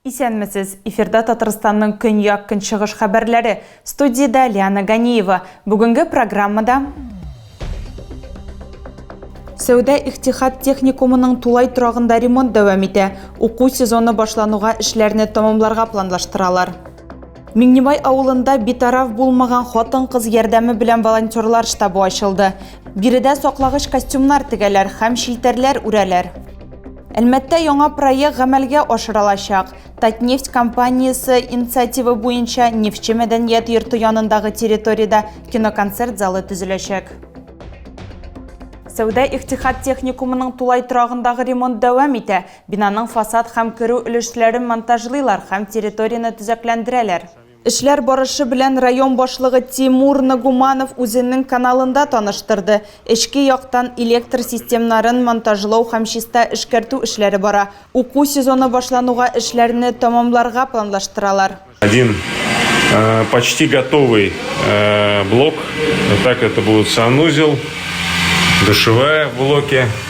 Исәнмесез! Эфирда Татарстанның көньяк-көнчыгыш хәбәрләре. Студиядә Лиана Ганиева. Бүгенге программада Сәүдә-ихтихат техникумының тулай торагында ремонт дәвам итә. Уку сезоны башлануга эшләрне тәмамларга планлаштыралар. Миңнебай авылында битараф булмаган хатын-кыз ярдәме белән волонтерлар штабы ачылды. Биредә саклагыч костюмнар тегәләр һәм челтәрләр үрәләр. Әлмәттә яңа проект гамәлгә ашырылачак. Татнефть компаниясе инициативы буенча Нефтьче мәдәният йорты янындагы территориядә киноконцерт залы төзеләчәк. Сәүдә-ихтихад техникумының тулай торагындагы ремонт дәвам итә. Бинаның фасад һәм керү өлешләрен монтажлыйлар һәм территорияне төзекләндерәләр. Эшләр барышы белән район башлыгы Тимур Нагуманов үзенең каналында таныштырды. Эчке яктан электр системнарын монтажлау һәм чиста эшкәртү эшләре бара. Уку сезоны башлануга эшләрне тәмамларга планлаштыралар. Один почти готовый блок, так это будет санузел, душевая в блоке.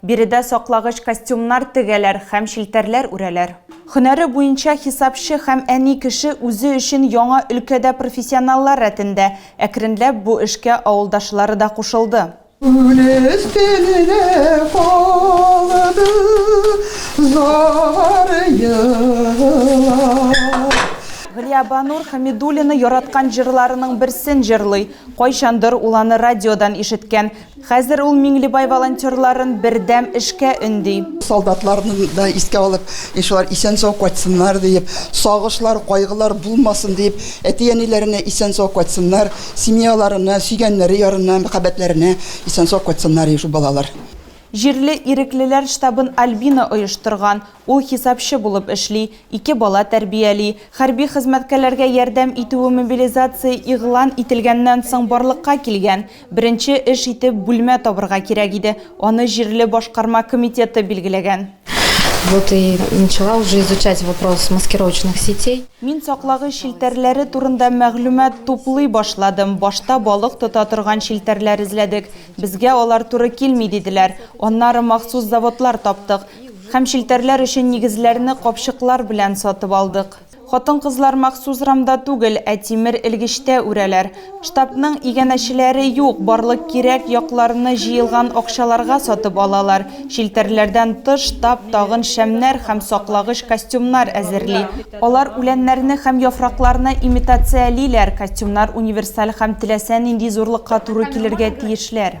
Биредә саклагыч костюмнар тегәләр һәм челтәрләр үрәләр. Һөнәре буенча хисапчы һәм әни кеше үзе өчен яңа өлкәдә профессионаллар рәтендә. Әкренләп бу эшкә авылдашлары да кушылды. Күл өстенә калды зар елап. Галиябанур Хәмидуллина яраткан җырларының берсен җырлый. Кайчандыр ул аны радиодан ишеткән. Хәзер ул Миңлебай волонтерларын бердәм эшкә өнди. Солдатларны да искә алып, иншә Аллаһ, исән-сау кайтсыннар диеп, сагышлар, кайгылар булмасын диеп, әти-әниләренә исән-сау кайтсыннар, семьяларына, сөйгәннәре ярына, мәхәббәтләренә исән-сау кайтсыннар ди шул балалар. Җирле иреклеләр штабын Альбина оештырган. Ул хисапчы булып эшли, ике бала тәрбияли. Хәрби хезмәткәләргә ярдәм итүе мобилизация игълан ителгәннән соң барлыкка килгән. Беренче эш итеп бүлмә табырга кирәк иде. Аны җирле башкарма комитеты билгеләгән. Вот и начала уже изучать вопрос маскировочных сетей. Мин саклагыч челтәрләре турында мәгълүмат туплый башладым. Башта балык тота торган челтәрләр эзләдек. Безгә алар туры килми, диделәр. Аннары махсус заводлар таптык. Һәм челтәрләр өчен нигезләрне капчыклар белән сатып алдык. Хатын-кызлар махсус рамда түгел, ә тимер элгечтә үрәләр. Штабның иганәчеләре юк, барлык кирәк якларны җыелган акчаларга сатып алалар. Челтәрләрдән тыш, штаб тагын шәмнәр һәм саклагыч костюмнар әзерли. Алар үләннәрне һәм яфракларны имитациялиләр, костюмнар универсаль һәм теләсә нинди зурлыкка туры килергә тиешләр.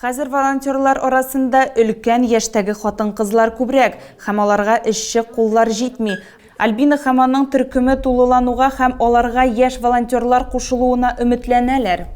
Хәзер волонтерлар арасында өлкән яшьтәге хатын-кызлар күбрәк, һәм аларга эшче куллар җитми. Альбина һәм аның төркеме тулылануга һәм аларга яшь волонтерлар кушылуына өметләнәләр.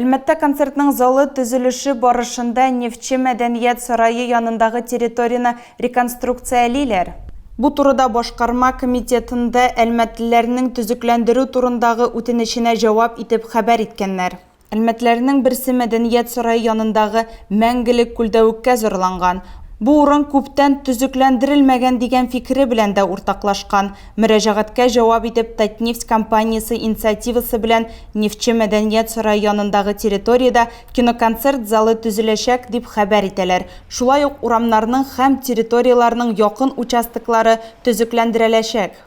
Әлмәттә концертның залы төзелеше барышында Нефтьче мәдәният сарае янындагы территорияне реконструкциялиләр. Бу турыда башкарма комитетында әлмәтлеләрнең төзекләндерү турындагы үтенеченә җавап итеп хәбәр иткәннәр. Әлмәтләрнең берсе Мәдәният сарае янындагы Мәңгелек күлдә үккә зарланган. Бу урын күптән төзекләндерелмәгән дигән фикере белән дә уртаклашкан. Мөрәҗәгатькә җавап итеп, Татнефть компаниясе инициативасы белән Нефтьче Мәдәният сарае янындагы территориядә киноконцерт залы төзеләчәк, дип хәбәр итәләр. Шулай ук урамнарның һәм территорияләрнең якын участоклары төзекләндерәләчәк.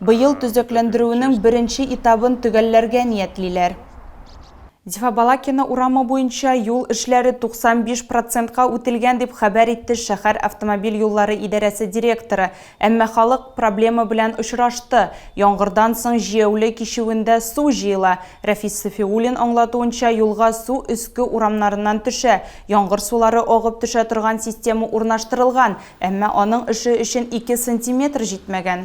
Быел төзекләндерүенең беренче этабын төгәлләргә ниятлиләр. Зифа Балакина урамы буенча юл эшләре 95 процентка үтелгән, дип хәбәр итте шәһәр автомобиль юллары идарәсе директоры. Әмма халык проблема белән очрашты. Яңгырдан соң җияүле кичүендә су җыела. Рәфис Сафиуллин аңлатуынча, юлга су өске урамнарыннан төшә. Яңгыр сулары агып төшә торган система урнаштырылган, әмма аның эше өчен ике сантиметр җитмәгән.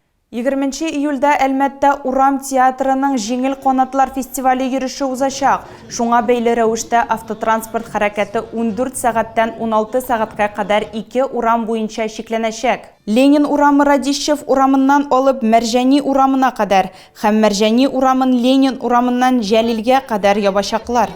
Егерменче июльдә Әлмәттә Урам театрының Җиңел канатлар фестивале йөреше узачак. Шуңа бәйле рәвештә автотранспорт хәрәкәте ундүрт сәгатьтән уналты сәгатькә кадәр ике урам буенча чикләнәчәк. Ленин урамы Радищев урамыннан алып Мәрҗани урамына кадәр һәм Мәрҗани урамын Ленин урамыннан Җәлилгә кадәр ябачаклар.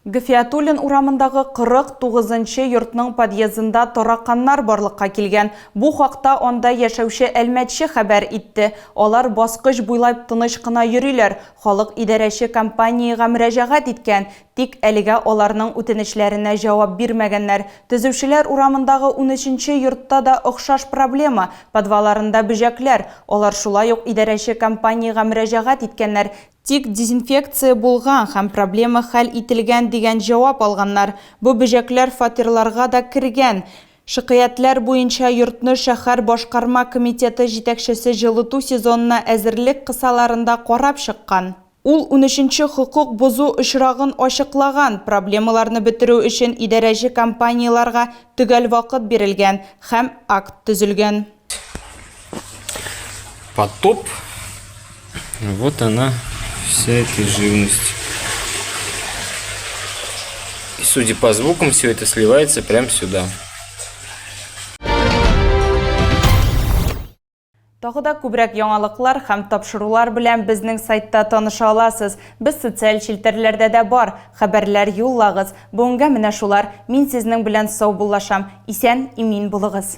Гфиятуллин урамындагы 49 нчы йортның подъездында тараканнар барлыкка килгән. Бу хакта анда яшәүче әлмәтче хәбәр итте. Алар баскыч буйлап тыныч кына йөриләр, халык идарәче компаниягә мөрәҗәгать иткән, тик әлегә аларның үтенечләренә җавап бирмәгәннәр. Төзүчеләр урамындагы унөченче йортта да охшаш проблема, подваларында бөҗәкләр. Алар шулай ук идарәче компаниягә мөрәҗәгать иткәннәр, Тик дезинфекция булган һәм проблема хәл ителгән дигән җавап алганнар. Бу бөҗәкләр фатирларга да кергән. Шикаятьләр буенча йортны шәһәр башкарма комитеты җитәкчесе җылыту сезонына әзерлек кысаларында карап чыккан. Ул унөченче хокук бозу очрагын ачыклаган, проблемаларны бетерү өчен идарәче компанияләргә төгәл вакыт бирелгән һәм акт төзелгән. Потоп. Вот она, вся эта живность. И судя по звукам, все это сливается прямо сюда. Тагы да күбрәк яңалыклар һәм тапшырулар белән безнең сайтта таныша аласыз. Без социаль челтәрләрдә дә бар. Хәбәрләр юллагыз. Бүгенгә менә шулар. Мин сезнең белән сау буллашам. Исән, имин булыгыз.